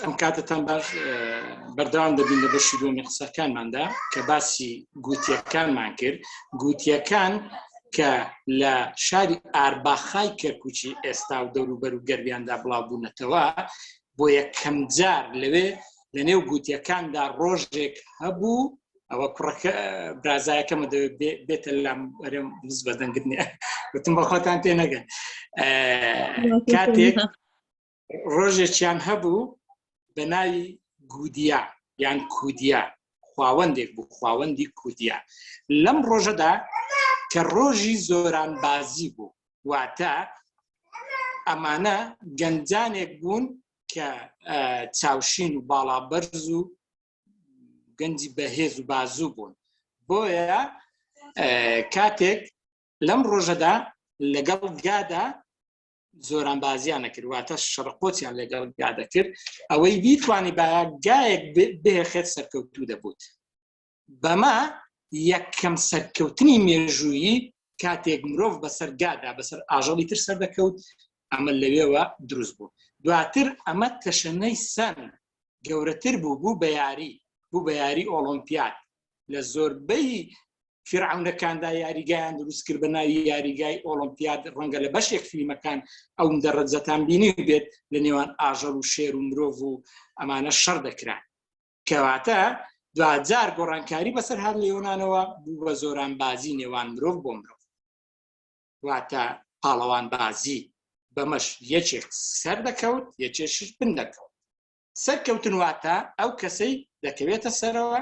ئەم کاتتان باش بەردەوام دەبین لە بەشی دومی قسەکانماندا کە باسی گوتیەکانمان کرد گوتیەکان کە لە شاری ئارباخای کەرکوچی ئێستا و دەوروبەر و گەربیاندا بڵاوبوونەتەوە بۆ یەکەم جار لەوێ لە نێو گوتیەکاندا ڕۆژێک هەبوو ئەوە کوڕەکە برازایەکەمە بێتە لام ئەرم بز بەدەنگرنیە وتم بەخۆتان تێ نەگەن کاتێک ڕۆژێکیان هەبوو بە ناوی گودیا یان کودیا خواوەندێک بوو خواوەندی کودیا لەم ڕۆژەدا کە ڕۆژی زۆران بازی بوو واتە ئەمانە گەنجانێک بوون کە چاوشین و باڵا بەرز و گەنجی بەهێز و بازوو بوون بۆیە کاتێک لەم ڕۆژەدا لەگەڵ گادا زۆران بازیان نەکرد واتە شڕقۆچیان لەگەڵ گا دەکرد ئەوەی بیتوانی باە گایەک بهێخێت سەرکەوتوو دەبوت بەمە یەکەم سەرکەوتنی مێژوویی کاتێک مرۆڤ بەسەر گادا بەسەر ئاژەڵی تر سەر دەکەوت ئەمە لەوێوە دروست بوو دواتر ئەمە تەشەنەی سەن گەورەتر بوو بوو بە یاری بوو بە یاری ئۆلۆمپیات لە زۆربەی فیرعەونەکاندا یاریگایان دروست کرد بە ناوی یاریگای ئۆلمپیاد ڕەنگە لە بەشێک فیلمەکان ئەو دەڕەجەتان بینی بێت لە نێوان ئاژەڵ و شێر و مرۆڤ و ئەمانە شەڕ دەکران کەواتە دوجار گۆڕانکاری بەسەر هەر لێۆنانەوە بوو بە زۆران بازی نێوان مرۆڤ بۆ مرۆڤ واتە پاڵەوان بازی بەمەش یەکێک سەر دەکەوت یەکێشش بن دەکەوت سەرکەوتن واتە ئەو کەسەی دەکەوێتە سەرەوە،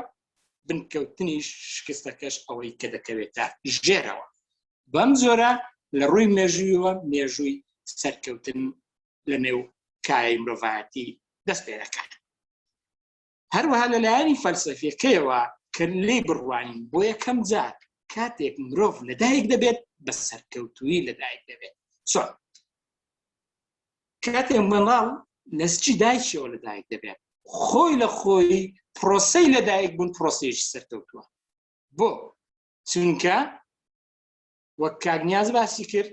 بنکەوتنیش شکستەکەش ئەوەی کە دەکەوێتە ژێرەوە. بەم جۆرە لە ڕووی مێژوویەوە مێژووی سەرکەوتن لە نێو کایەی مرۆڤایەتی دەست پێ دەکات. هەروەها لە لایەنی فەلسەفیەکەیەوە کە لێی بڕوانین بۆ یەکەم جار کاتێک مرۆڤ لەدایک دەبێت بە سەرکەوتووی لەدایک دەبێت چۆن کاتێ منداڵ لە سکی دایکیەوە لە دایک دەبێت خۆی لە خۆی پرۆسەی لە دایک بوون پرۆسێکی سەرکەوتووە بۆ چونکە وەک کاگنیاز باسی کرد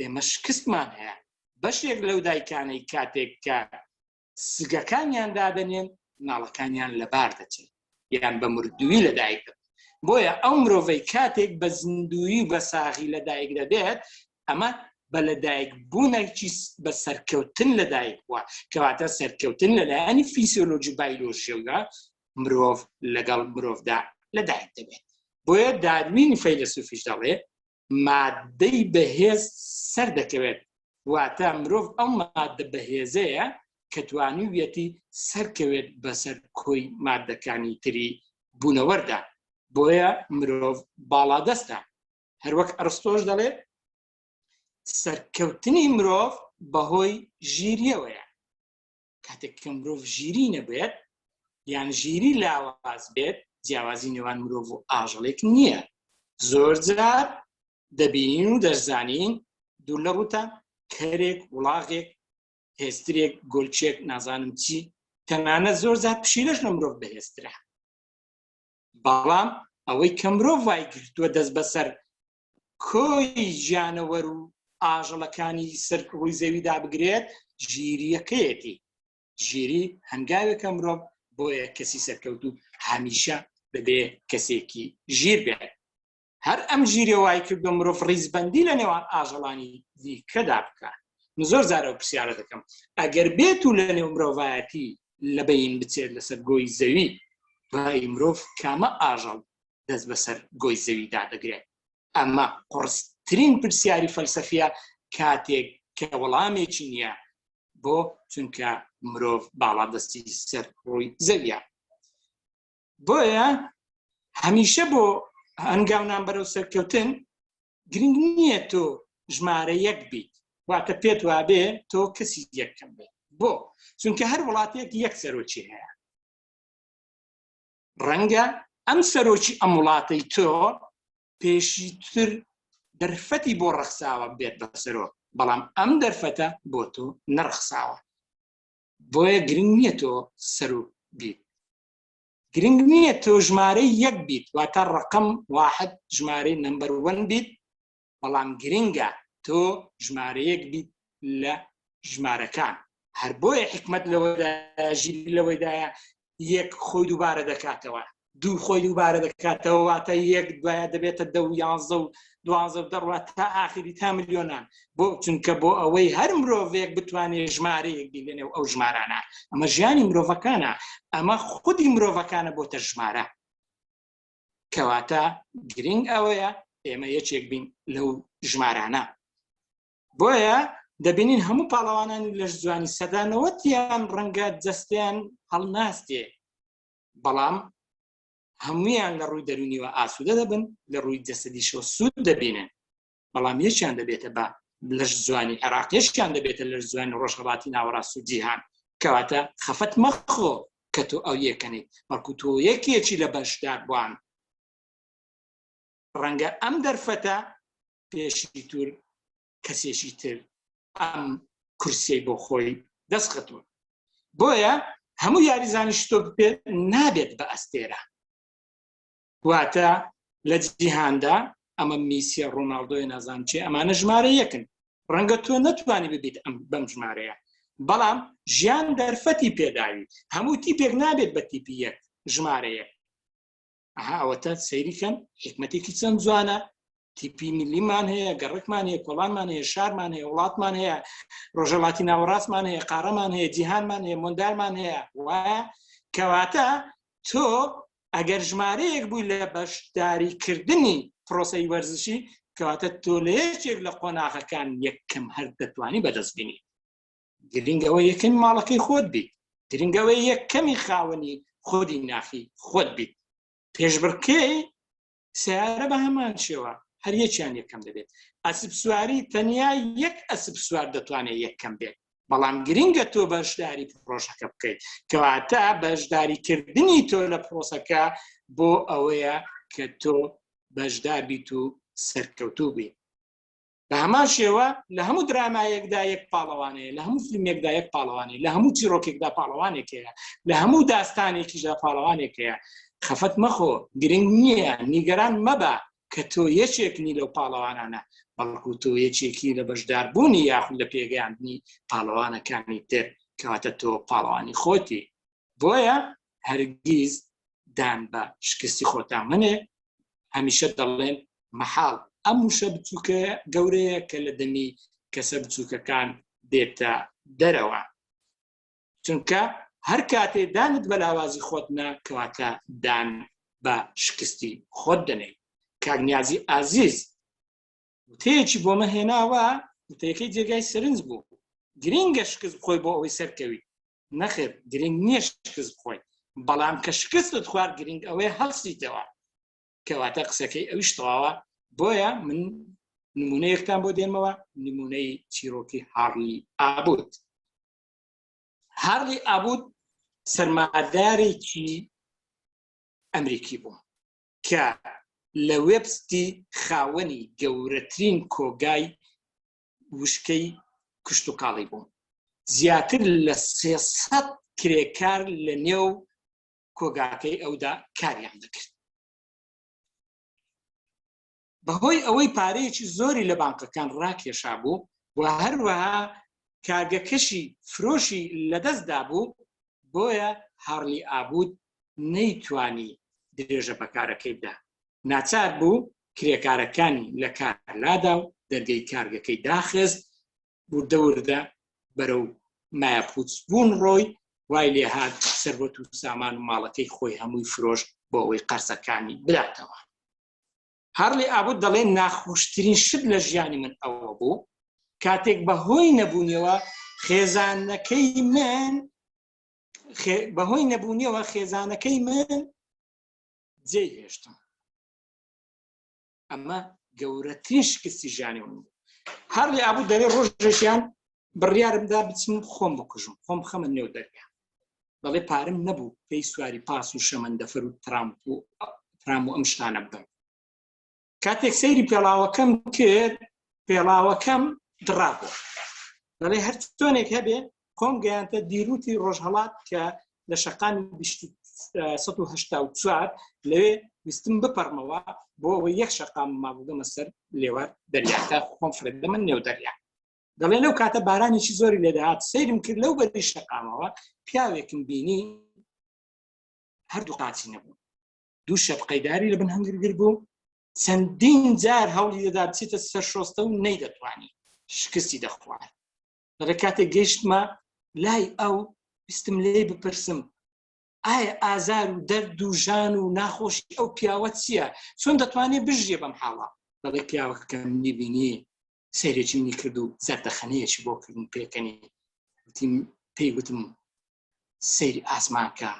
ئێمە شکستمان هەیە بەشێک لەو دایکانەی کاتێک کە سگەکانیان دادەنێن مناڵەکانیان لەبار دەچێت یان بە مردووی لەدایک دەبن بۆیە ئەو مرۆڤەی کاتێک بە زیندوی بە ساغی لەدایک دەبێت ئەمە بە لەدایک بوونێکی بە سەرکەوتن لەدایک بووە کەواتە سەرکەوتن لەلایەنی فیسیۆلۆژی بایلۆژیەوە مرۆڤ لەگەڵ مرۆڤدا لەدایک دەبێت بۆیە داروین فەیلسوفیش دەڵێ ماددەی بەهێز سەردەکەوێت، واتە مرۆڤ ئەو ماددە بەهێزەیە کە توانیویەتی سەرکەوێت بەسەر کۆی ماددەکانی تری بوونەوەردا، بۆیە مرۆڤ باڵادەستە. هەروەک ئەرستۆش دەڵێت، سەرکەوتنی مرۆڤ بەهۆی ژیرییەوەیە. کاتێک کە مرۆڤ ژیری نەبێت یان ژیری لاواز بێت جیاوازی نێوان مرۆڤ و ئاژەڵێک نییە زۆر جار دەبینین و دەرزانین دوور لە ڕوتە کەرێک وڵاغێک هێسترێک گۆلچێک نازانم چی تەنانە زۆر زار پشیلەش لە مرۆڤ بەهێسترا بەڵام ئەوەی کە مرۆڤ وای گرتووە دەست بەسەر کۆی گیانەوەر و ئاژەڵەکانی سەر ڕووی زەویدا بگرێت ژیریەکەیەتی ژیری هەنگاوێکە مرۆڤ بۆیە کەسی سەرکەوت و هەمیشە بەبێ کەسێکی ژیر بێت هەر ئەم ژیرە وای کرد بە مرۆڤ ڕیزبندی لە نێوان ئاژەڵانی دیکەدا بکات من زۆر زارە و پرسیارە دەکەم ئەگەر بێت و لە نێو مرۆڤایەتی لە بەین بچێت لەسەر گۆی زەوی ڕای مرۆڤ کامە ئاژەڵ دەست بەسەر گۆی زەویدا دەگرێت ئەمە قڕسترین پرسیاری فەلسەفیە کاتێک کە وەڵامێکی نییە بۆ چونکە مرۆڤ باڵادەستی سەر ڕووی زەویە بۆیە هەمیشە بۆ هەنگاونان بەرەو سەرکەوتن گرنگ نییە تۆ ژمارە یەک بیت واتە پێت وابێ تۆ کەسی یەکەم بێت بۆ چونکە هەر وڵاتێک یەک سەرۆکی هەیە ڕەنگە ئەم سەرۆکی ئەم وڵاتەی تۆ پێشی تر دەرفەتی بۆ ڕەخساوە بێت بە سەرۆ بەڵام ئەم دەرفەتە بۆ تۆ نەڕخساوە بۆیە گرنگ نییە تۆ سەرۆک بیت گرنگ نییە تۆ ژمارەی یەک بیت واتە ڕقم واحد ژمارەی نمبەر وەن بیت بەڵام گرنگە تۆ ژمارەیەک بیت لە ژمارەکان هەر بۆیە حکمت لەوەدا ژیر لەوەیدایە یەک خۆی دووبارە دەکاتەوە دوو خۆی دووبارە دەکاتەوە واتە یەک دوایە دەبێتە دە و یانزە و دوانزە و دەڕات تا ئاخری تا ملیۆنان بۆ چونکە بۆ ئەوەی هەر مرۆڤێک بتوانێت ژمارەیەک بینێ و ئەو ژمارانە ئەمە ژیانی مرۆڤەکانە ئەمە خودی مرۆڤەکانە بۆتە ژمارە کەواتە گرنگ ئەوەیە ئێمە یەکێک بین لەو ژمارانە بۆیە دەبینین هەموو پاڵەوانانی لەش جوانی سەدانەوەتیان ڕەنگە جەستیان هەڵناستێ بەڵام هەمویان لە ڕووی دەرونیوە ئاسوودە دەبن لە ڕووی جەسەدیشەوە سوود دەبینن بەڵام یەکیان دەبێتە بە لەش زوانی عێراق یەکیان دەبێتە لەش زوانی ڕۆژهەڵاتی ناوەڕاست و جیهان کەواتە خەفەت مەخۆ کە تۆ ئەو یەکەنی بەڵکو تۆ یەکێکی لە بەشدار بووان ڕەنگە ئەم دەرفەتە پێشی تور کەسێکی تر ئەم کورسی بۆ خۆی دەستخەتووە بۆیە هەموو یاریزانیش تۆ بپێت نابێت بە ئەستێرە واتە لە جیهاندا ئەمە میسیە ڕۆناالدۆی نازان چێ ئەمانە ژمارە یەکن ڕەنگە تۆ نەتوانی ببیت ئەم بەم ژمارەیە بەڵام ژیان دەرفەتی پێداوی هەموو تیپێک نابێت بە تیپی یەک ژمارەیە ئەها ئەوەتە سەیریکەن حکمەتێکی چەند جوانە تیپی میلیمان هەیە گەڕکمان هەیە کۆڵانمان هەیە شارمان هەیە وڵاتمان هەیە ڕۆژەڵاتی ناوەڕاستمان هەیە قارەمان هەیە جیهانمان هەیە مندالمان هەیە وایە کەواتە تۆ ئەگەر ژمارەیەک بووی لە بەشداریکردنی پرۆسی وەرزشی کەواتە تۆ لە یەکێک لە قۆناغەکان یەکەم هەر دەتوانی بەدەست بینی گرنگەوە یەکەم ماڵەکەی خۆت بیت گرنگەوە یەکەمی خاوەنی خودی ناخی خۆت بیت پێشبڕکەی سیارە بە هەمان شێوە هەر یەکیان یەکەم دەبێت ئەسب سواری تەنیا یەک ئەسب سوار دەتوانێت یەکەم بێت بەڵام گرنگە تۆ بەشداری پرۆژەکە بکەیت کەواتە بەشداریکردنی تۆ لە پرۆسەکە بۆ ئەوەیە کە تۆ بەشدار بیت و سەرکەوتوو بیت بە هەمان شێوە لە هەموو درامایەکدا یەک پاڵەوانەیە لە هەموو فیلمێکدا یەک پاڵەوانی لە هەموو چیرۆکێکدا پاڵەوانێکەیە لە هەموو داستانێکیشدا پاڵەوانێکەیە خەفەت مەخۆ گرنگ نییە نیگەران مەبە کە تۆ یەکێک نی لەو پاڵەوانانە بەڵکو تۆ یەکێکی لە بەشداربوونی یاخود لە پێگەیاندنی پاڵەوانەکانی تر کەواتە تۆ پاڵەوانی خۆتی بۆیە هەرگیز دان بە شکستی خۆتان منێ هەمیشە دەڵێن مەحاڵ ئەم وشە بچووکە گەورەیە کە لە دەمی کەسە بچووکەکان دێتە دەرەوە چونکە هەر کاتێ دانت بە لاوازی خۆت نە کەواتە دان بە شکستی خۆت دەنێی کاگنیازی ئازیز وتەیەکی بۆ مەهێناوە وتەیەکەی جێگای سرنج بوو گرینگە شکست خۆی بۆ ئەوەی سەرکەوی نەخێر گرنگ نییە شکست بخۆیت بەڵام کە شکستت خوارد گرنگ ئەوەیە هەڵسیتەوە کەواتە قسەکەی ئەوش تەواوە بۆیە من نمونە یەکتان بۆ دێنمەوە نمونەی چیرۆکی هاڕلی ئابوت هاڕلی ئابوت سەرمادارێکی ئەمریکی بوو کە لە وێبستی خاوەنی گەورەترین کۆگای وشکەی کشتتوکاڵی بووم زیاتر لە سێسە کرێکار لە نێو کۆگاکەی ئەودا کاریان دەکرد بەهۆی ئەوەی پارەیەکی زۆری لە بانکەکان ڕاکێشا بوو و هەروەها کارگەکەشی فرۆشی لەدەستدا بوو بۆیە هاڕلی ئابوود نەیتوانی درێژە بە کارەکەی بدا، ناچار بوو کرێکارەکانی لە کار لادا و دەرگەی کارگەکەی داخست، وردە وردە بەرەو مایەپووچبوون ڕۆی، وای لێ هات سەروەت و سامان و ماڵەکەی خۆی هەمووی فرۆشت بۆ ئەوەی قەرزەکانی بداتەوە. هارلی ئابوت دەڵێت، ناخۆشترین شت لە ژیانی من ئەوە بوو کاتێک بە هۆی نەبوونیەوە خێزانەکەی من بەهۆی نەبوونیەوە خێزانەکەی من جێ هێشتم ئەمە گەورەترین شکستی ژیانی من بوو هەر لە ئابوو دەرێ ڕۆژێکیان بڕیارمدا بچم خۆم بکوژم خۆم خەمە نێو دەرگە بەڵێ پارم نەبوو پێی سواری پاس و شەمەندەفەر و ترامپ و ترام و ئەم شتانە بدەم کاتێک سەیری پێڵاوەکەم کرد پێڵاوەکەم دڕابوو دەڵێ هەر تۆنێک هەبێ خۆم گەیانتە دیروتی ڕۆژهڵات کە لە شقامی 1970 لەوێ ویستم بپەرمەوە بۆ ئەوە یەک شقام مابووگەمە سەر لێوار دەریاکە خۆم فرێدە من نێو دەریا دەڵێ لەو کاتە بارانێکی زۆری لێدەهات سەیرم کرد لەو بەری شقامەوە پیاوێکم بینی هەردوو قاچی نەبوو دوو شەپقەی داری لە بن هەنگر گر بوو چەندین جار هەوڵی دەدا بچێتە سەر شۆستە و نەی دەتوانی شکستی دەخوارد لە کاتێک گەیشتمە لای ئەو ویستم لێ بپرسم ئایا ئازار و دەرد و ژان و ناخۆشی ئەو پیاوە چییە چۆن دەتوانێت بژیە بەم حاڵە دەڵی پیاوەکەم نیبینی سەیرێکی منی کرد و زەردەخەنەیەکی بۆ کردن پێکەنی پێی وتم سەیری ئاسمان کە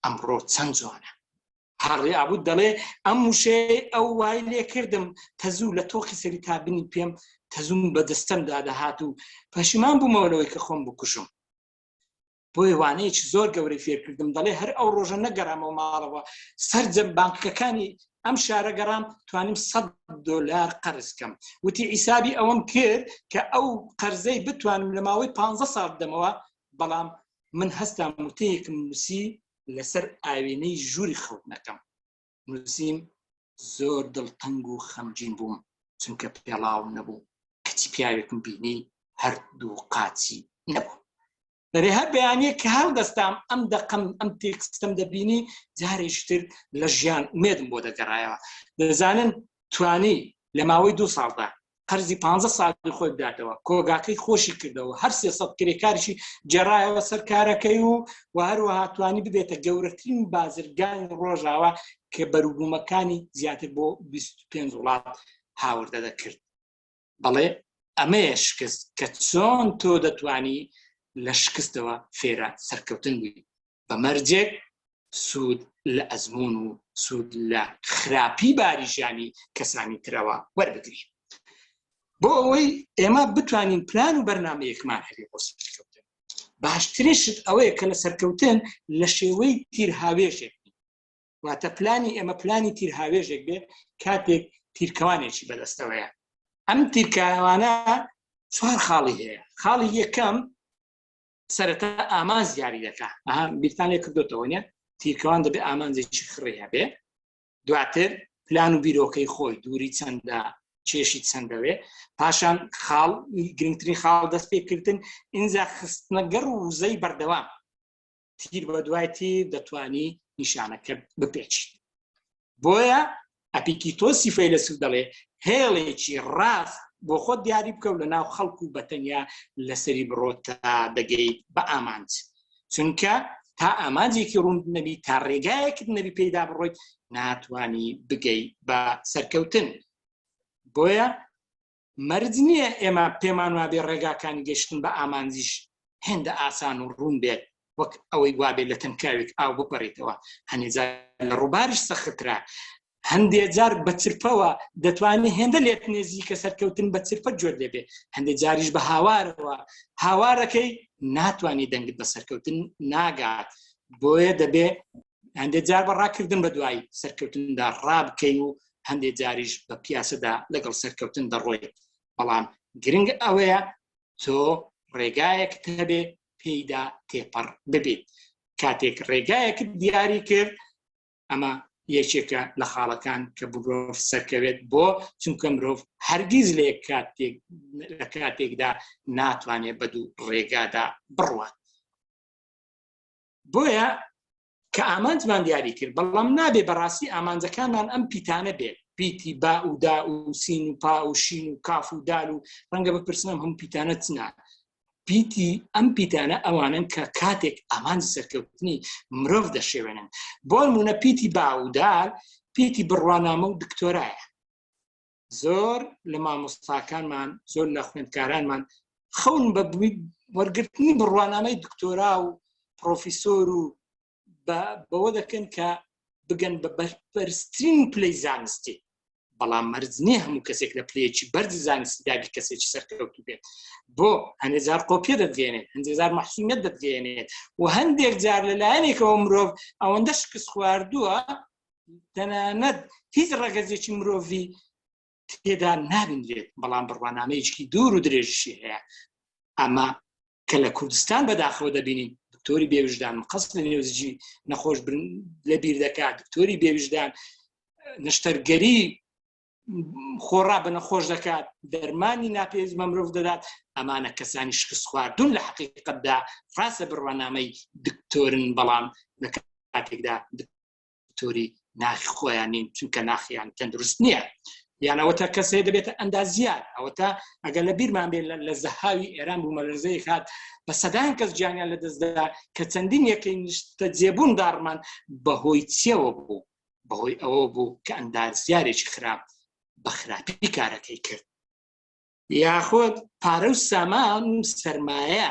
ئەمڕۆ چەند جوانە هاڕێ ئابوو دەڵێ ئەم وشەیە ئەو وای لێ کردم تەزوو لە تۆخی سەری تا بنی پێم تەزووم بە دەستەم دادەهات و پەشیمان بوومەوەەوەی کە خۆم بکوژم بۆیە وانەیەکی زۆر گەورەی فێرکردم دەڵێ هەر ئەو ڕۆژە نەگەرامەوە ماڵەوە سرجەم بانکەکانی ئەم شارە گەڕام توانیم 100 دلار قەرزکەم وتی ئیسابی ئەوەم کرد کە ئەو قەرزەی بتوانم لە ماوەی 15 ساڵ دەمەوە بەڵام من هەستان وتەیەکم نووسی لەسەر ئاوێنەی ژووری خەوتنەکەم نووسیم زۆر دڵتەنگ و خەمجین بووم چونکە پێڵاوم نەبوو کچی پیاوێکم بینی هەردوو قاچی نەبوو دەێ هەر بەیانەیە کە هەڵ دەستام ئەم دەقم ئەم تێکستم دەبینی جارێشتر لە ژیان مێدم بۆ دەگەڕایەوە دەزانن توانی لە ماوەی دوو ساڵدا قەرزی پانزە ساڵی خۆی بداتەوە کۆگاکەی خۆشی کردەوە هەر سێ سەد کرێکاریشی جێڕایەوە سەر کارەکەی و و هەروەها توانی ببێتە گەورەترین بازرگانی ڕۆژاوا کە بەروبوومەکانی زیاتر بۆ 25 وڵات هاوردە دەکرد بەڵێ ئەمەیە شکست کە چۆن تۆ دەتانی لە شکستەوە فێرە سەرکەوتن بووی بە مەرجێک سوود لە ئەزمون و سوود لە خراپی باریژانی کەسانی ترەوە وەربگری بۆ ئەوەی ئێمە بتوانین پلان و بەرنمەیەکمان هەبێ بۆ سەرکەوتن باشترین شت ئەوەیە کە لە سەرکەوتن لە شێوەی تیرهاوێژێک واتە پلانی ئێمە پلانی تیرهاوێژێک بێ کاتێک تیرکەوانێکی بەدەستەوەیە ئەم تیرکاوانە چوار خاڵی هەیە خاڵی یەکەم سەرەتا ئامانج دیاری دەکا ئەها بیرتان لێ کردوتەوە نیە تیرکەوان دەبێ ئامانجێکی خڕی هەبێ دواتر پلان و بیرۆکەی خۆی دووری چەندە کێشی چەندەوێ پاشان خاڵ گرنگترین خاڵ دەست پێکردن ئینجا خستنەگەڕ و وزەی بەردەوام تیر بە دوای تیر دەتوانی نیشانەکە بپێچیت بۆیە ئەپیکیتۆسی فەیلەسوف دەڵێ هێڵێکی ڕاست بۆ خۆت دیاری بکە و لە ناو خەڵک و بەتەنیا لەسەری بڕۆ تا دەگەیت بە ئامانج چونکە تا ئامانجێکی ڕوون نەبی تا ڕێگایەکت نەبی پێیدا بڕۆیت ناتانی بگەی بە سەرکەوتن بۆیە مەرج نییە ئێمە پێمان وابێ ڕێگاکانی گەشتن بە ئامانجیش هێندە ئاسان و ڕوون بێت وەک ئەوەی وابێت لە تەنکاوێک ئاو بپەڕیتەوە هەنێجار لە ڕووباریش سەخترا هەندێ جار بە چرپەوە دەتوانێت هێندە لێت نێزی کە سەرکەوتن بە چرپە جۆر لێبێ هەندێک جاریش بە هاوارەوە هاوارەکەی ناتوانانی دەنگت بە سەرکەوتن ناگات بۆیە دەبێ هەندێ جار بە ڕاکردن بە دوای سەرکەوتندا ڕابکەی و هەندێ جاریش بە پیاسەدا لەگەڵ سەرکەوتن دەڕۆی بەڵام گرنگ ئەوەیە تۆ ڕێگایەک هەبێ پێیدا تێپەڕ ببێت کاتێک ڕێگایەک دیاری کرد ئەمە یەکێکە لە خاڵەکان کە بگرۆف سەرکەوێت بۆ چونکە مرۆڤ هەرگیز لێ کاتێک لە کاتێکدا ناتوانێت بە دوو ڕێگادا بڕوات بۆیە کە ئامانجمان دیاری کرد بەڵام نابێ بەڕاستی ئامانجەکانمان ئەم پیتانە بێت پیتی با و دا و سین و پا و شین و کاف و دال و ڕەنگە بپرسنم هەم پیتانە چنا پیتی ئەم پیتانە ئەوانن کە کاتێک ئامانج سەرکەوتنی مرۆڤ دەشێوێنن بۆ نمونە پیتی با و دال پیتی بڕوانامە و دکتۆرایە زۆر لە مامۆستاکانمان زۆر لە خوێندکارانمان خەون بە وەرگرتنی بڕوانامەی دکتۆرا و پرۆفیسۆر و بەوە دەکەن کە بگەن بە بەرپەرسترین پلی زانستی بەڵام مەرز نییە هەموو کەسێک لە پلەیەکی بەرز زانستی دابی کەسێکی سەرکەوتو بێت بۆ هەندێزار قۆپیە دەدگەێنێت هەندێزار مەحسومیت دەدگەێنێت و هەندێک جار لەلایەنێکەوە مرۆڤ ئەوەندە شکست خواردووە تەنانەت هیچ ڕەگەزێکی مرۆڤی تێدا نابینرێت بەڵام بڕوانامەیەکی دوور و درێژشی هەیە ئەمە کە لە کوردستان بەداخەوە دەبینین دکتۆری بێویژدان مقەست لە نێوزجی نەخۆش لە بیر دەکات دکتۆری بێویژدان نشتەرگەری خۆڕا بە نەخۆش دەکات دەرمانی ناپێز بە مرۆڤ دەدات ئەمانە کەسانی شکست خواردون لە حقیقتدا ڕاستە بڕوانامەی دکتۆرن بەڵام لە کاتێکدا دکتۆری ناخی خۆیان نین چونکە ناخیان تەندروست نییە یانەوە تا کەسێ دەبێتە ئەندازیات ئەوە تا ئەگەر لە بیرمان بێت لە زەهاوی ئێران بوو مەلزەی هاات بە سەدان کەس جیانیان لە دەستدا کە چەندین یەکەی نیشتە جێبوون داڕمان بەهۆی چیەوە بوو بەهۆی ئەوە بوو کە ئەندازیارێکی خراپ بە خراپی کارەکەی کرد یاخود پارە و سامان و سرمایە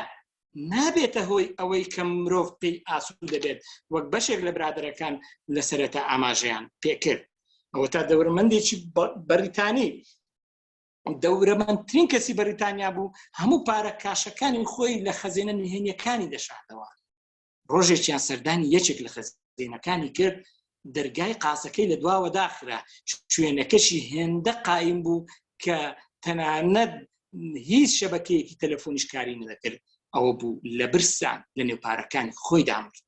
نابێتە هۆی ئەوەی کە مرۆڤ پێی ئاسوود دەبێت وەک بەشێک لە برادەرەکان لە سەرەتا ئاماژەیان پێکرد ئەوە تا دەورمەندێکی بەریتانی دەورەمەندترین کەسی بەریتانیا بوو هەموو پارە کاشەکانی خۆی لە خەزێنە نهێنیەکانی دەشاتەوە ڕۆژێکیان سەردانی یەکێک لە خەزێنەکانی کرد دەرگای قاسەکەی لە دواوە داخرا شوێنەکەشی هێندە قایم بوو کە تەنانەت هیچ شەبەکەیەکی تەلەفۆنیش کاری نەدەکرد ئەوە بوو لە برسان لە نێو پارەکان خۆی دامرد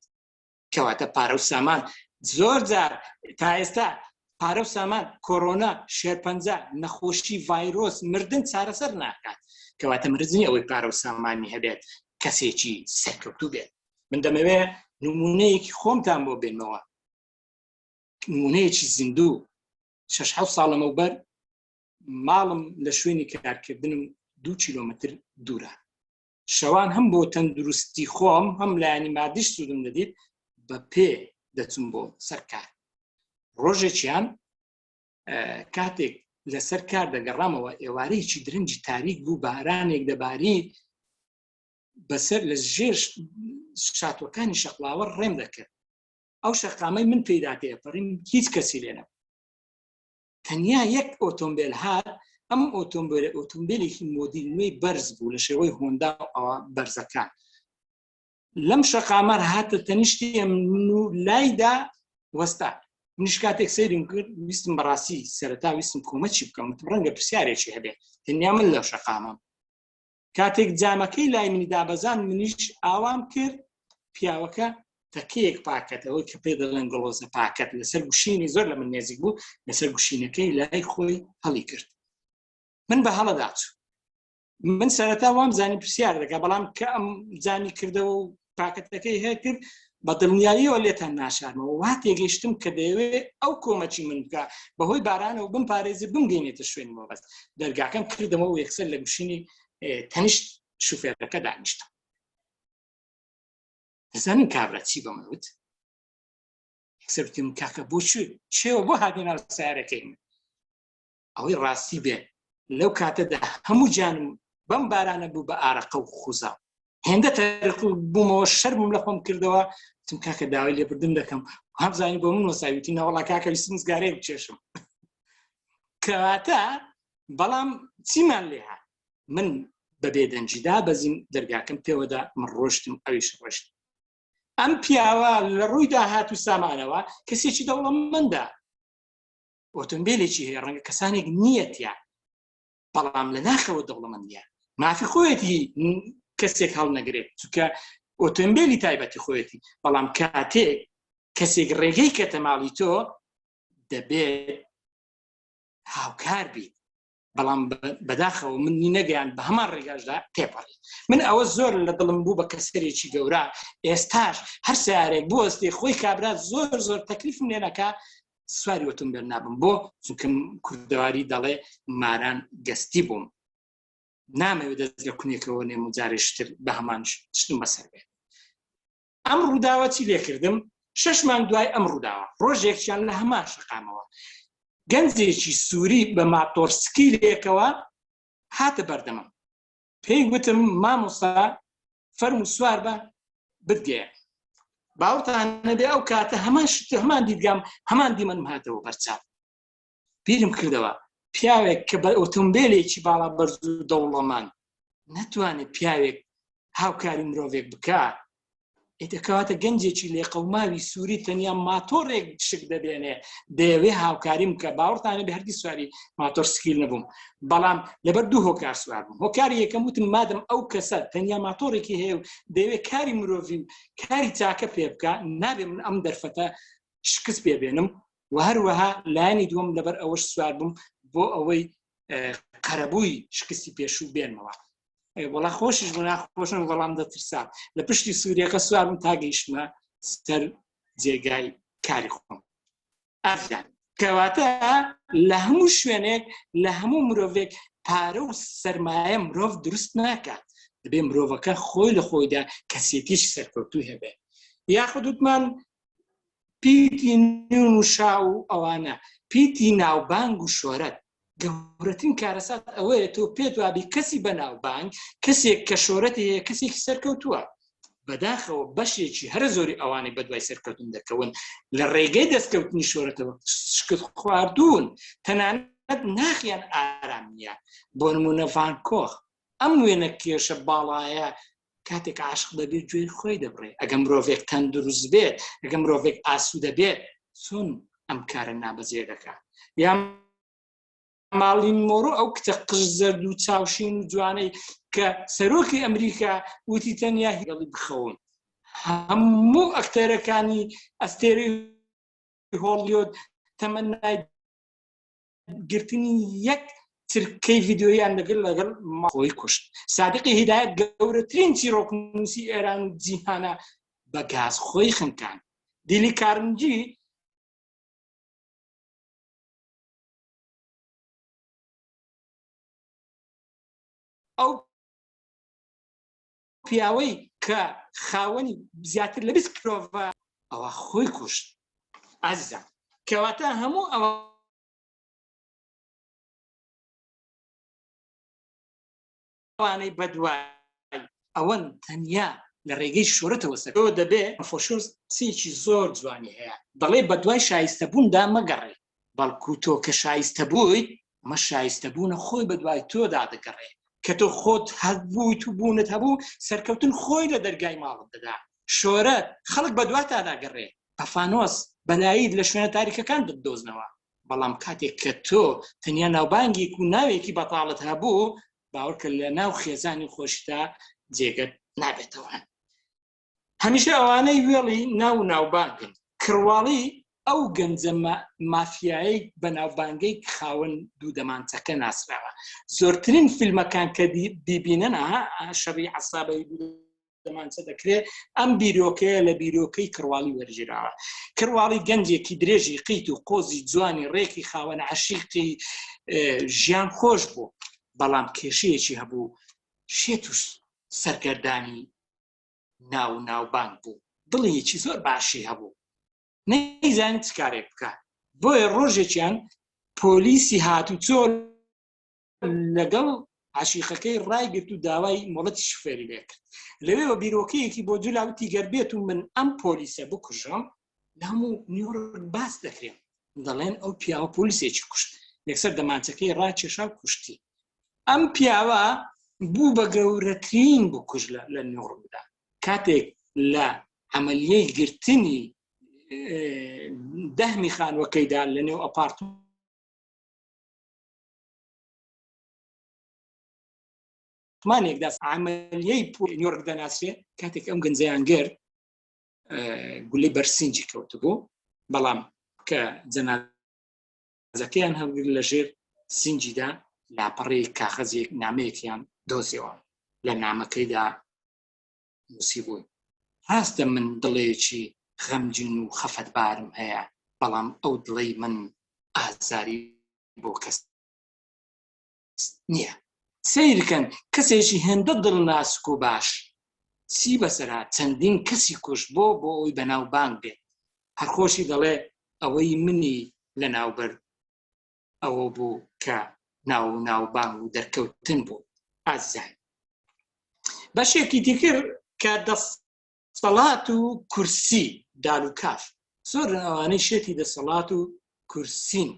کەواتە پارە و سامان زۆر جار تا ئێستا پارە و سامان، کۆرۆنا، شێرپەنجە، نەخۆشی، ڤایرۆس، مردن چارەسەر ناکات. کەواتە مرج نییە ئەوەی پارە و سامانی هەبێت کەسێکی سەرکەوتوو بێت. من دەمەوێ نموونەیەکی خۆمتان بۆ بێنمەوە، نموونەیەکی زیندوو. شەش حەوت ساڵ لەمەوبەر ماڵم لە شوێنی کارکردنم دوو کیلۆمەتر دوورە. شەوان هەم بۆ تەندروستی خۆم هەم لایانی مادیش سوودم دەدیت بە پێ دەچم بۆ سەرکار ڕۆژێکیان کاتێک لەسەر کار دەگەڕامەوە ئێوارەیەکی درنجی تاریک بوو بارانێک دەباری بەسەر لە ژێر شاتوەکانی شەقلاوە ڕێم دەکرد ئەو شەقامەی من پێداکەیە پەڕیم هیچ کەسی لێنە تەنیا یەک ئۆتۆمبیل هات ئەم ئۆتۆمبیل ئۆتۆمبیلێکی مۆدیل نوێی بەرز بوو لە شێوەی هۆندا ئەوە بەرزەکان لەم شەقامەر هاتە تەنیشتی من و لایدا وەستا منش کاتێک سەیرم کرد ویستم بەڕاستی سەرتا ویستم کۆمەچی بکەم ڕەنگە پرسیارێکی هەبێ تەنیا من لەو شەقامم کاتێک جامەکەی لای منی دابەزان منیش ئاوام کرد پیاوەکە تەکەیەک پاکەتەوەی کە پێ دەڵێن گڵۆزە پاکەت لەسەر گوشینی زۆر لە من نێزیک بوو لەسەر گوشینەکەی لای خۆی هەڵی کرد من بە هەڵەداچوو من سەرەتا وام زانی پرسیار دەکە بەڵام کە ئەم جامی کردەوە و پاکەتەکەی هەیە کرد بە دڵنیاییەوە لێتان ناشارمەوە وا تێگەیشتم کە دەیەوێ ئەو کۆمەچی من بکە بەهۆی بارانەوە بم پارێزی بمگەینێتە شوێن مۆبەست دەرگاکەم کردەوە و یەکسەر لە گوشینی تەنیشت شوفێرەکە دانیشتم دەزانین کابرا چی بە منوت سەرتیم کاکە بۆ چێوە بۆ هاتین سارەکەی من ئەوەی ڕاستی بێ لەو کاتەدا هەموو جانم بەم بارانە بوو بە ئارەقە و خوزا هێندە تەرق بوومەوە شەرمم لە خۆم کردەوە تم کاکە داوای لێبردن دەکەم هەمزانی بۆ من وەساویتی ناوەڵا کاکە سمزگارێ بچێشم کەواتە بەڵام چیمان لێ من بە بێدەنجیدا بەزیم دەرگاکەم پێوەدا من ڕۆشتم ئەویش ڕۆشت ئەم پیاوە لە ڕووی داهات و سامانەوە کەسێکی دەوڵەمەندە ئۆتۆمبیلێکی هەیە ڕەنگە کەسانێک نیەتە بەڵام لە ناخەوە دەوڵەمەندە مافی خۆیەتی کەسێک هەڵنەگرێت چکە ئۆتۆمبیلی تایبەتی خۆیەتی بەڵام کاتێک کەسێک ڕێگەی کە تەماڵی تۆ دەبێت هاوکار بیت بەڵام بەداخەوە منی نەگەیان بە هەمان ڕێگاشدا تێپەڕی من ئەوە زۆر لە دڵم بوو بە کەسەرێکی گەورە ئێستاش هەر سارێک بۆستی خۆی کابرا زۆر زۆر تەکلیفم لێنەکە سواری وتم بێن نابم بۆ چونکەم کوردەواری دەڵێ ماران گەستی بووم نامەوێت دەست لە کونێکەوە نێم و جارێشتر بە هەمان شتم بەسەر بێت ئەم ڕووداوە چی لێکردم شەش مانگ دوای ئەم ڕووداوە ڕۆژێکیان لە هەمان شقامەوە گەنجێکی سووری بە ماتۆرسکی لێکەوە هاتە بەردەمم پێی وتم مامۆستا فەرم و سوار بە بدگەیە باوتانەبێ ئەو کاتە هەمان شت هەمان دیدگام هەمان دیمەنم هاتەوە بەرچاو بیرم کردەوە پیاوێک کە بە ئۆتۆمبیلێکی باڵا بەرز و دەوڵەمان نەتوانێت پیاوێک هاوکاری مرۆڤێک بکە ئیتەکەواتە گەنجێکی لێ قەوماوی سووری تەنیا ماتۆڕێک شک دەبێنێ دەیەوێ هاوکاریم کە باوەڕتانە بە هەرگی سواری ماتۆر سکیل نەبووم بەڵام لەبەر دوو هۆکار سوار بووم هۆکاری یەکەم وتم مادەم ئەو کەسە تەنیا ماتۆڕێکی هەیە و دەیەوێت کاری مرۆڤی و کاری چاکە پێ بکە نابێ من ئەم دەرفەتە شکست پێ بێنم و هەروەها لایەنی دووەم لەبەر ئەوەش سوار بووم بۆ ئەوەی قەرەبووی شکستی پێشوو بێنمەوە وڵا خۆشیش بۆ ناخۆشن وەڵام دەترسا لە پشتی سووریەکە سوارم تا گەیشتمە سەر جێگای کاری خۆم ئەفیان کەواتە لە هەموو شوێنێک لە هەموو مرۆڤێک پارە و سرمایە مرۆڤ دروست ناکات دەبێ مرۆڤەکە خۆی لە خۆیدا کەسێتیش سەرکەوتوو هەبێت یاخودوتمان پیتی نون و شا و ئەوانە پیتی ناوبانگ و شۆرەت گەورەترین کارەسات ئەوەیە تۆ پێت وابی کەسی بە ناوبانگ کەسێک کە شۆرەتی هەیە کەسێکی سەرکەوتووە بەداخەوە بەشێکی هەرە زۆری ئەوانەی بەدوای سەرکەوتن دەکەون لە ڕێگەی دەستکەوتنی شۆرەتەوە شکت خواردون تەنانەت ناخیان ئارام نیە بۆ نمونە ڤانکۆخ ئەم وێنە کێشە باڵایە کاتێک عاشق دەبێت گوێی خۆی دەبڕێ ئەگەم مرۆڤێک تەندروست بێت ئەگەم مرۆڤێک ئاسو دەبێت چۆن ئەم کارە نابەجێ دەکات یا ماڵین مۆرۆ ئەو کچە قژ زەرد و چاوشین و جوانەی کە سەرۆکی ئەمریکا وتی تەنیا هێڵی بخەون هەموو ئەکتەرەکانی ئەستێری هۆڵیۆت تەمەنای گرتنی یەک ترکەی ڤیددیویان لەگەر لەگەڵ ماخۆی کوشت سادقی هیدایەت گەورەترین چیرۆکنووسی ئێران و جیهانە بە گاز خۆی خنکان دیلی کارنجی ئەو پیاوەی کە خاوەنی زیاتر لە بیست کرۆڤە ئەوە خۆی کوشت ئازیزان کەواتە هەموو ئەوە ئەوانەی بەدوای ئەوەن تەنیا لە ڕێگەی شۆرەتەوە سەرەوە دەبێ فۆشۆس قسێکی زۆر جوانی هەیە دەڵێ بە دوای شایستە بووندا مەگەڕێ بەڵکو تۆ کە شایستە بوویت، ئەمە شایستەبوونە خۆی بە دوای تۆدا دەگەڕێ، کە تۆ خۆت هەبوویت و بوونت هەبوو، سەرکەوتن خۆی لە دەرگای ماڵت دەدا، شۆرەت، خەڵک بە دواتا داگەڕێ، بە فانۆس، بە لایت لە شوێنە تاریکەکان دەتدۆزنەوە. بەڵام کاتێک کە تۆ تەنیا ناوبانگێک و ناوێکی بەتاڵت هەبوو، باوەڕکە لەناو خێزانی خۆشتدا جێگەت نابێتەوە. هەمیشە ئەوانەی وێڵی ناو و ناوبانگن کڕواڵی ئەو گەنجە مافیایەی بەناوبانگەی خاوەن دوو دەمانچەکە ناسراوە زۆرترین فیلمەکان کە بیبینن ئەها شەڕی عسابەی دەمانچە دەکرێت ئەم بیرۆکەیە لە بیرۆکەی کڕواڵی وەرگیراوە کڕواڵی گەنجێکی درێژی قیت و قۆزی جوانی ڕێکی خاوەن عشیقی ژیان خۆش بوو بەڵام کێشەیەکی هەبوو شێت و سەرگەردانی ناو و ناوبانگ بوو دڵیەکی زۆر باشی هەبوو نەیزان چ کارێک بکە بۆیە ڕۆژێکیان پۆلیسی هاتو چۆ لەگەڵ عشیقەکەی ڕایگررت و داوای مۆڵەتی شوفێری لێکرد لەوێەوە بیرۆکەیەکی بۆ جولاوتی گەربێت و من ئەم پۆلیسە بکوژم لام و نیۆرک باس دەکرێن دەڵێن ئەو پیاوە پۆلیسێکی کوشت یەکسەر دەمانچەکەی ڕاکێشا کوشتی ئەم پیاوە بوو بە گەورەترین بکوژ لە نیۆرکدا کاتێک لە عملیەی گرتنی دەهمی خانوەکەیدا لە نێو ئەپارت مانێکدا عملیەی پۆ نیۆرک دەناسرێ کاتێک ئەم گەنجیان گرت گولی بەرسینجی کەوتبوو بەڵام کە جەنازەکەیان هەڵگر لە ژێر سنجیدا لاپەڕی کاخەزیێک نامەیەکیان دۆزیەوە لە نامەکەیدا نووسی بوون هاستە من دڵێکی غەمجین و خەفەت بارم هەیە بەڵام ئەو دڵی من ئازاری بۆ کەس نییە سیرکەن کەسێکی هێندە دڵناسک و باش چی بەسەرا چەندین کەسی کوش بۆ بۆ ئەوی بەناو بانگ بێت هەرخۆشی دەڵێ ئەوەی منی لە ناوبەر ئەوە بوو کە ناو ناو بانگ و دەرکەوتن بوو ئازیزان بەشێکی دیکر کە دەست سەڵات و کورسی دالوکاف زۆر ئەوانەی شێتی دەسەڵات و کورسین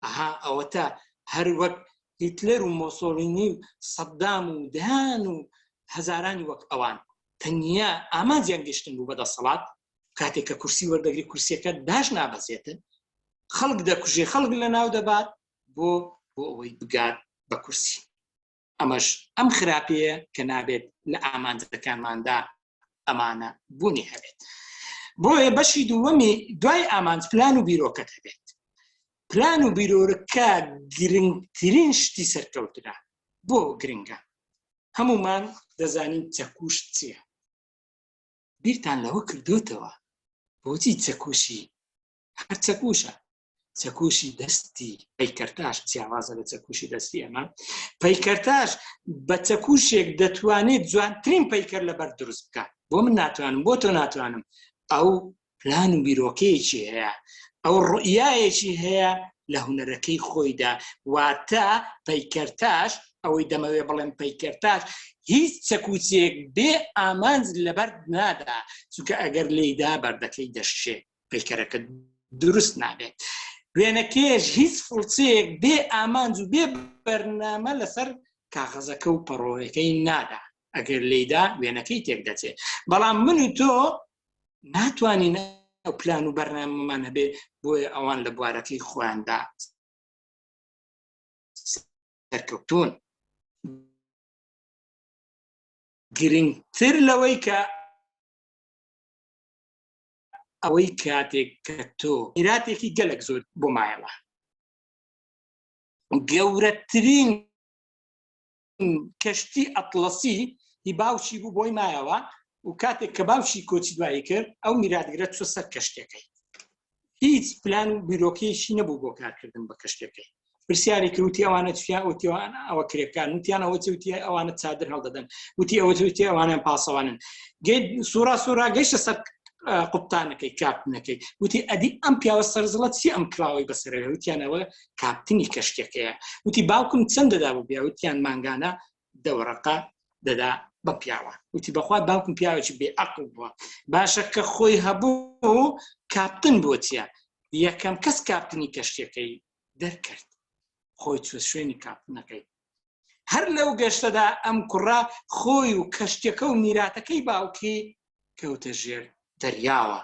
ئەها ئەوەتا هەر وەک هیتلەر و مۆسۆلینی و سەددام و دەیان و هەزارانی وەک ئەوان تەنیا ئامانجیان گەشتن بوو بە دەسەڵات کاتێک کە کورسی وەردەگری کورسیەکە داش نابەزێتن خەڵک دەکوژێ خەڵک لە ناو دەبات بۆ بۆ ئەوەی بگات بە کورسی ئەمەش ئەم خراپەیە کە نابێت لە ئامانجەکانماندا ئەمانە بوونی هەبێت بۆیە بەشی دووەمی دوای ئامانج پلان و بیرۆکەت هەبێت پلان و بیرۆرەکە گرنگترین شتی سەرکەوترا بۆ گرنگە هەمومان دەزانین چەکوش چییە بیرتان لەوە کردوتەوە بۆچی چەکوشی هەر چەکوشە چەکوشی دەستی پەیکەرتاش جیاوازە لە چەکوشی دەستی ئەمە پەیکەرتاش بە چەکوشێک دەتوانێت جوانترین پەیکەر لەبەر دروست بکە بۆ من ناتوانم بۆ تۆ ناتوانم ئەو پلان و بیرۆکەیەکی هەیە ئەو ڕئایەکی هەیە لە هوەرەکەی خۆیدا واتە پەیکەرتاش ئەوەی دەمەوێ بڵێن پەیکەرتاش هیچ چەکوچێک بێ ئامانج لەبەر نادا چونکە ئەگەر لێیدا بەردەکەی دەشێت پەیکەرەکە دروست نابێت وێنەکەش هیچ فڵچەیەک بێ ئامانج و بێ بەرنامە لەسەر کاغەزەکە و پەڕۆەکەی نادا ئەگەر لیدا وێنەکەی تێک دەچێت بەڵام من و تۆ ناتوانین ئەو پلان و بەرنامەمان هەبێ بۆیە ئەوان لە بوارەکەی خۆیاندا سەرکەوتون گرنگتر لەوەی کە ئەوەی کاتێک کە تۆ ئیراتێکی گەلک زۆر بۆ مایەوە گەورەترین کەشتی ئەتلەسی هی باوکی بوو بۆی مایەوە و کاتێک کە باوکی کۆچی دوایی کرد ئەو میراتگرە چۆ سەر کەشتەکەی هیچ پلان و بیرۆکەیەکی نەبوو بۆ کارکردن بە کەشتەکەی پرسیاری کرد وتی ئەوانە چیان وتی ئەوە کرێکان وتیان ئەوە چی وتی ئەوانە چادر هەڵدەدەن وتی ئەوە وتی ئەوانیان پاسەوانن گەی سوورا سوورا گەیشتە سەر قوپتانەکەی کاپتنەکەی وتی ئەدی ئەم پیاوە سەرزڵەت چی ئەم کراوەی بەسەرەوە وتیانەوە کاپتنی کەشتەکەیە وتی باوکم چەند دەدا بۆ پیا وتیان مانگانە دەوەڕقە دەدا بە پیاوە وتی بەخوا باوکم پیاوێکی بێ عقل بووە باشە کە خۆی هەبوو کاپتن بۆچیە یەکەم کەس کاپتنی کەشتەکەی دەرکرد خۆی چوە شوێنی کاپنەکەی هەر لەو گەشتەدا ئەم کوڕە خۆی و کەشتەکە و میراتەکەی باوکی کەوتە ژێر دەریاوە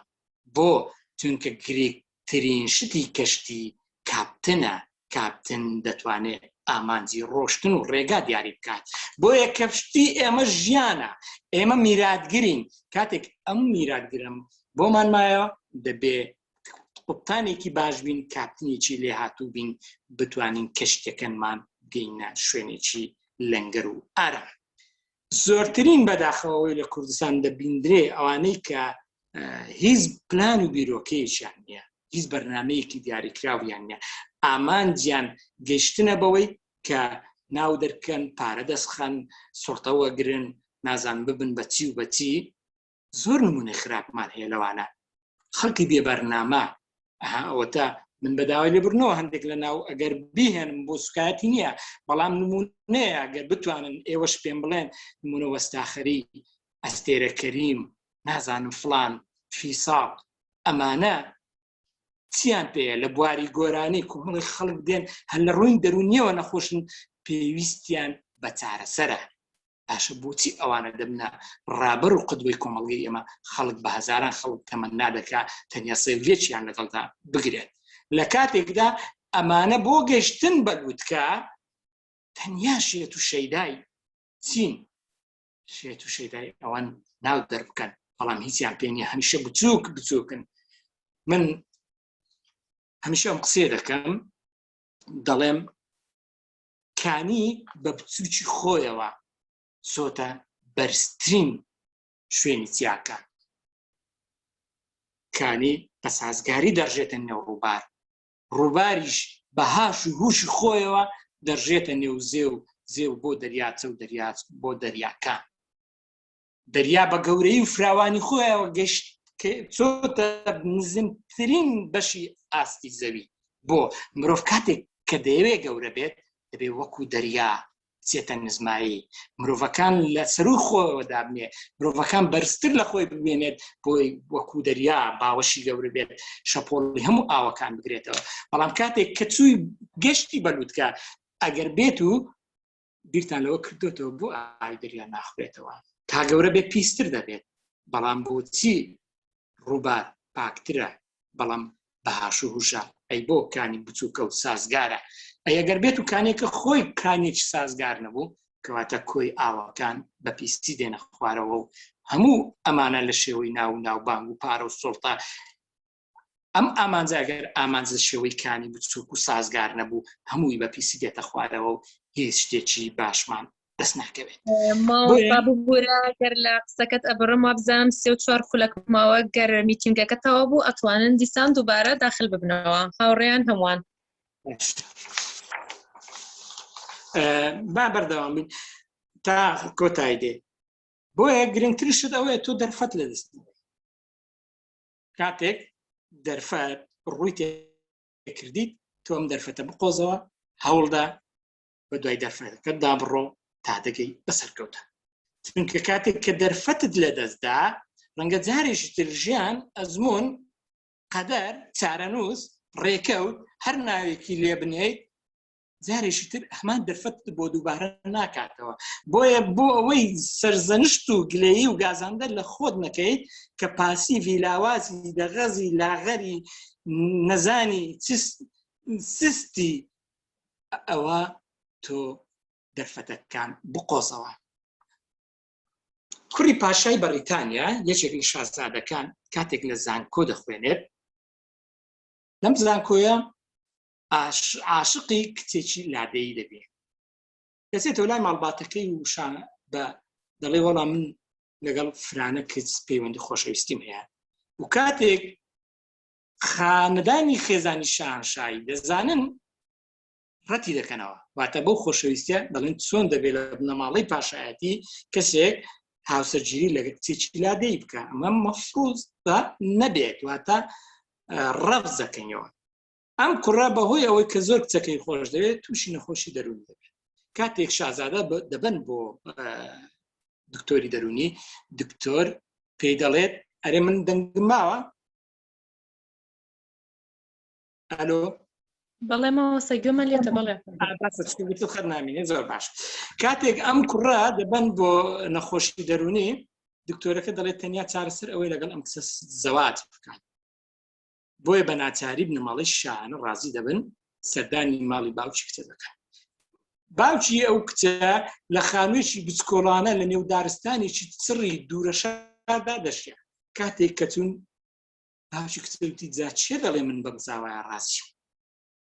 بۆ چونکە گرێکترین شتی کەشتی کاپتنە کاپتن دەتوانێت ئامانجی ڕۆشتن و ڕێگا دیاری بکات بۆیە کەفشتی ئێمە ژیانە ئێمە میراتگرین کاتێک ئەم میراتگرم بۆمان مایەوە دەبێ قوپتانێکی باش بین کاپتنێکی لێ هاتوو بین بتوانین کەشتەکەنمان گەینە شوێنێکی لەنگەر و ئارا زۆرترین بەداخەوەی لە کوردستان دەبیندرێ ئەوانەی کە هیچ پلان و بیرۆکەیەکیان نییە هیچ بەرنمەیەکی دیاریکراویان نیە ئامانجیان گەشتنە بەوەی کە ناو دەرکەن پارە دەستخەن سڵتەوە گرن نازان ببن بەچی و بەچی زۆر نمونەی خراپمان هەیە لەوانە خەڵکی بێ بەرنامە ئەوەتا من بەداوای لێ بردنەوە هەندێک لە ناو ئەگەر بهێنم بۆ سوکایەتی نییە بەڵام نمونەیە گەر بتوانن ئێوەش پێم بڵێن نمونە وەستاخەری ئەستێرە کەریم نازانم فلان فیساڵ ئەمانە چیان پێەیە لە بواری گۆرانی کومەڵی خەڵک دێن هەر لە ڕووین دەرونیەوە نەخۆشن پێویستیان بە چارەسەرە باشە بۆچی ئەوانە دەبنە ڕابەر و قدوەی کۆمەڵگەی ئێمە خەڵک بە هزاران خەڵک تەمە نادەکا تەنیا سەیلێکیان لەگەڵدا بگرێت لە کاتێکدا ئەمانە بۆ گەشتن بە گوتکە تەنیا شێت و شەیدای چین شێت و شەیدای ئەوان ناو دەربکەن بەڵام هیچیان پێ نیە هەمیشە بچووک بچووکن من هەمیشە ئەم قسێ دەکەم دەڵێم کانی بە بچووکی خۆیەوە سۆتە بەرزترین شوێنی چیاکە کانی بە سازگاری دەڕژێتە نێو ڕووبار ڕووباریش بە هاش و هووشی خۆیەوە دەرژێتە نێو زێ و زێ و بۆ دەریاچە و دەریاچ بۆ دەریاکان دەریا بە گەورەی و فراوانی خۆیەوە گەشت چۆتە نزمترین بەشی ئاستی زەوی بۆ مرۆڤ کاتێک کە دەیەوێ گەورە بێت دەبێ وەکو دەریا بچێتە نزمایی مرۆڤەکان لە سەروی خۆەوە دابنێ مرۆڤەکان بەرزتر لە خۆی ببێنێت بۆی وەکو دەریا باوەشی گەورە بێت شەپۆڵی هەموو ئاوەکان بگرێتەوە بەڵام کاتێک کە چووی گەشتی بەلووتکە ئەگەر بێت و بیرتان لەوە کردوێتەوە بۆ ئاوی دەریا ناخورێتەوە تا گەورە بێ پیستر دەبێت بەڵام بۆچی ڕووبار پاکترە بەڵام بە هاشو هوشە ئەی بۆ کانی بچووکە و سازگارە ئەگەر بێت و کانێکە خۆی کانێکی سازگار نەبوو کەواتە کۆی ئاواکان بە پیستی دێنە خوارەوە و هەموو ئەمانە لە شێوەی ناو ناوبانگ و پارە و سڵتە ئەم ئامانجاگەر ئامانج لە شێوەی کانی بچووک و سازگار نەبوو هەمووی بە پیسی دێتە خوارەوە و هیچ شتێکی باشمان دەست ناکەوێت ماڵبا ببوورە گەر لە قسەکەت ئەبڕم وابزانم سێ و چوار خولەک ماوە گەر میتینگەکە تەوا بوو ئەتوانن دیسان دووبارە داخل ببنەوە هاوڕێیان هەمووان با بەردەوام بین تا کۆتای دێ بۆیە گرنگتر شت ئەوەیە تۆ دەرفەت لە دەست کاتێک دەرفەت ڕووی تێکردیت تۆم دەرفەتە بقۆزەوە هەوڵدا بە دوای دەرفەتەکە دابڕۆ تا دەگەی بە سەرکەوتە چونکە کاتێک کە دەرفەتت لە دەستدا ڕەنگە جارێکی تر ژیان ئەزمون قەدەر چارەنووس ڕێکەوت هەر ناوێکی لێ بنێیت جارێکی تر هەمان دەرفەت بۆ دووبارە ناکاتەوە بۆیە بۆ ئەوەی سەرزەنشت و گلەیی و گازاندە لە خۆت نەکەیت کە پاسی ڤیلاوازی دەغەزی لاغەری نەزانی سستی ئەوە تۆ دەرفەتەکان بقۆزەوە کوڕی پاشای بەڕیتانیا یەکێک لە شازادەکان کاتێک لە زانکۆ دەخوێنێت لەم زانکۆیە عاشقی کچێکی لادەیی دەبێت دەچێتەوە لای ماڵباتەکەی وشان بە دەڵێ وەڵا من لەگەڵ فرانە کچ پەیوەندی خۆشەویستیم هەیە و کاتێک خانەدانی خێزانی شاهنشاهی دەزانن ڕەتی دەکەنەوە واتە بەو خۆشەویستە دەڵێن چۆن دەبێت لە بنەماڵەی پاشایەتی کەسێک هاوسەرگیری لە کچێکی لا دەی بکە ئەمە مەفروز بە نەبێت واتە ڕەف دەکەنەوە ئەم کوڕە بەهۆی ئەوەی کە زۆر کچەکەی خۆش دەوێت تووشی نەخۆشی دەروون دەبێت کاتێک شازادە دەبن بۆ دکتۆری دەرونی دکتۆر پێی دەڵێت ئەرێ من دەنگماوە ئەلۆ بەڵێ ماوەسە گوێمان لێتە بەڵێ خەر نامینێ زۆر باش کاتێک ئەم کوڕە دەبن بۆ نەخۆشی دەرونی دکتۆرەکە دەڵێت تەنیا چارەسەر ئەوەی لەگەڵ ئەم کسە زەوات بکات بۆیە بە ناچاری بنەماڵی شانە ڕازی دەبن سەردانی ماڵی باوکی کچە دەکەن باوکی ئەو کچە لە خانوێکی بچکۆڵانە لە نێو دارستانێکی چڕی دوورەشاردا دەشێ کاتێک کەچون باوکی کچوتی جا چێ دەڵێ من بەم زاوایە ڕاستی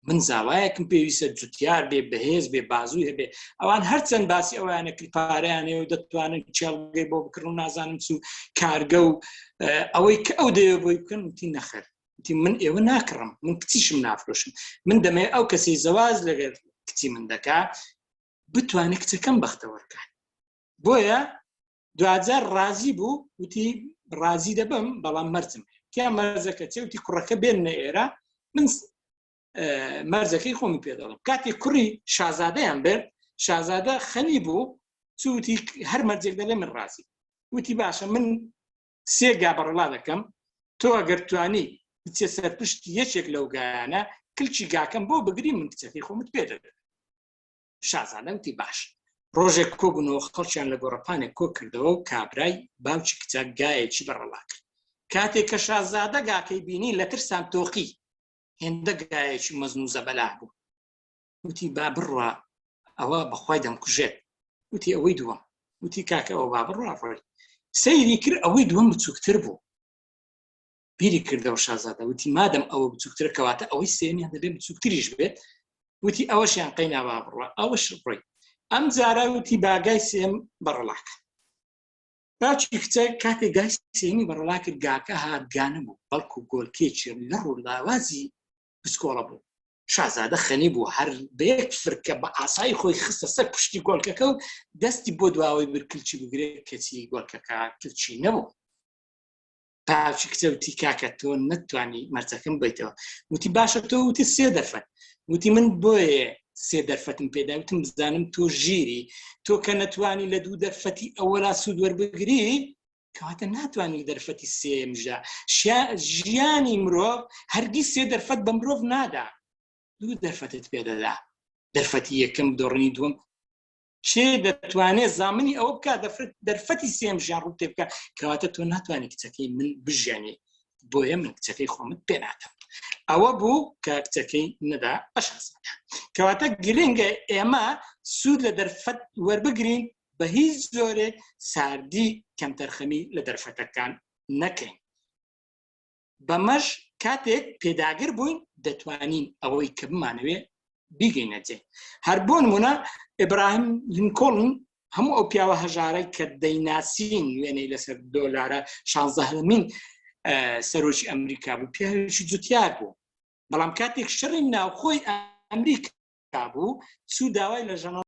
من زاوایەکم پێویستە جوتیار بێ بەهێز بێ بازوو هەبێ ئەوان هەرچەند باسی ئەوانە کرپارەیانێ و دەتوانن چێڵگەی بۆ بکڕن و نازانم چوو کارگە و ئەوەی کە ئەو دەیە بۆی بکەن وتی نەخەر وتی من ئێوە ناکڕم من کچیشم نافرۆشم من دەمێ ئەو کەسی زەواز لەگەر کچی من دەکا بتوانێت کچەکەم بەختەوەرکان بۆیە دوجار ڕازی بوو وتی ڕازی دەبم بەڵام مەرزم تیا مەرزەکە چێوتی کوڕەکە بێن نە ئێرە من مەرزەکەی خۆمی پێ دەڵم کاتی کوڕی شازادەیان بێت شازادە خەنی بوو چوتی هەر مەرجێک دەلێ من ڕازی وتی باشە من سێ گا بەڕەڵا دەکەم، تۆ ئەگەر توانی بچێ سەر پشت یەکێک لەو گایانە کلکی گاکەم بۆ بگری من کچەکەی خۆمت پێ دەدەم. شازادە وتی باش. ڕۆژێک کۆبوونەوە خەڵکیان لە گۆڕەپانێک کۆ کردەوە و کابرای باوکی کچە گایەکی بەڕەڵا کرد. کاتێک کە شازادە گاکەی بینی لە ترسان تۆقی. هێندە گایەکی مەزن و زەبەلاح بوو. وتی با بڕوا ئەوە بەخوای دەمکوژێت وتی ئەوەی دووەم وتی کاکە ئەوە با بڕوا ڕۆی سەیری کرد ئەوەی دووەم بچووکتر بوو بیری کردەوە شازادە وتی مادەم ئەوە بچووکتر کەواتە ئەوەی سێنیان دەبێ بچووکتریش بێت وتی ئەوەشیان قەینا با بڕە ئەوەش ڕۆی ئەم جارە وتی باگای سێم بەڕڵاک باچی کچە کاتێک گای سێمی بەڕڵا کرد گاکە هاگانە بوو بەڵکو گۆلکێکی لە ڕوو لاوازی پسکۆڵە بوو شازادە خەنی بوو هەر بەیەک فرکە بە ئاسایی خۆی خستە سەر پشتی گۆلکەکە و دەستی بۆ دواوەی برکلچی بگرێ کەچی گۆلکەکە کلچی نەبوو پاچی کچە وتی کاکە تۆ نەتوانی مەرجەکەم بیتەوە وتی باشە تۆ وتی سێ دەرفەت وتی من بۆیە سێ دەرفەتم پێدا وتم بزانم تۆ ژیری تۆ کە نەتوانی لە دوو دەرفەتی ئەوەلا سوود وەربگری کەواتە ناتوانین دەرفەتی سێم ژە ژیانی مرۆڤ هەرگی سێ دەرفەت بە مرۆڤ نادا دوو دەرفەتت پێدەدا دەرفەتی یەکەم دۆڕنی دوم کێ دەتوانێت زامنی ئەو بکە دەفرت دەرفەتی سێم ژیان ڕوو تێ بکە کەواتە تۆ ناتوانانی کچەکەی من بژێنی بۆیە من کچەکەی خۆمت پێ ناکەم ئەوە بوو کە کچەکەی نەدا ئەشخص کەواتە گرنگە ئێمە سوود لە دەرفەت وەربگرین بە هیچ جۆرێک ساردی کەمتەرخەمی لە دەرفەتەکان نەکەین بەمەش کاتێک پێداگر بووین دەتوانین ئەوەی کە بمانەوێ بیگەینەجێ هەر بۆ نمونە ئبراهیم لینکۆڵن هەموو ئەو پیاوە هەژارە کە دەیناسین وێنەی لەسەر دۆلارە شانزەهمین سەرۆکی ئەمریکا بوو پیاوێکی جوتیار بوو بەڵام کاتێک شەڕی ناوخۆی ئەمریکا بوو سوو داوای لە ژەنە